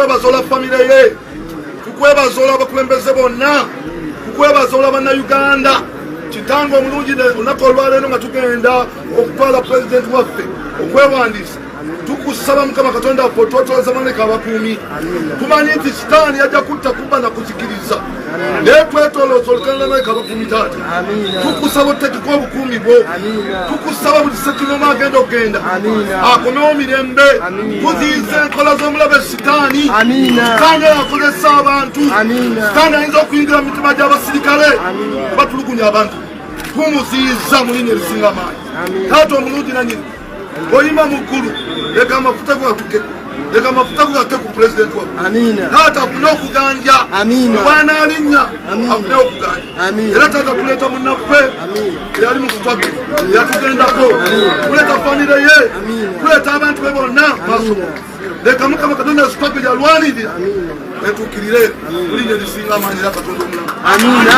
tukwebazola famire ye tukwebazola abakulembeze bonna tukwebazola bannayuganda kitange omulungi olunaku olwaleero nga tugenda okutwala pulezidenti waffe okwewandiisa tukusaba mukama katonda waffe otwotwalaza maneka abakuumi tumanyi nti sitaani yajja kutta kubba na kuzikiriza naye twetolooza olukalala nawe kabakuumi taata tukusaba otutekeko obukuumi bwo tukusaba buli sekinoma agenda okugenda akomewo mirembe kuziyiza enkola z'omulabe sitaani sitaani akozesa abantu sitaani ayinza okuyingira mu mitima gy'abasirikale oba tulugunya abantu tumuziyiza mu linya erisinga amaanyi taata omulungi nanyini Oyima mukulu leka amafuta gatuke leka amafuta gate ku pulezidenti wa taata afune okuganja obwanalinya afune okuganja era taata tuleeta munaffe eyali mukutwage yatugendako tuleeta famire ye tuleeta abantu be bonna masomo leka mukama katonda azikwape lyalwanirira etukirire mulinya lisinga amaanyi era katonda omulamu amina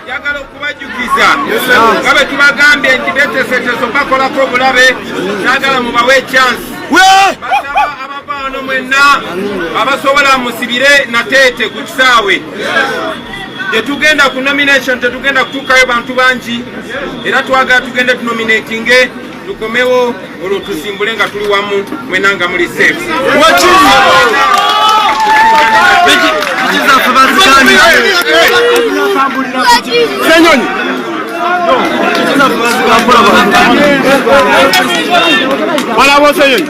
njagala okubajjukiza nga bwe tubagambye nti beteseteso bakolako obulabe nagala mubawe ekyansi basaba abava wano mwenna abasobola musibire nateete ku kisaawe tetugenda ku nomination tetugenda kutuukayo bantu bangi era twagala tugende tunominatinge tukomewo olwo tusimbule nga tuli wamu mwena nga muli safe senyonyi walawo senyonyi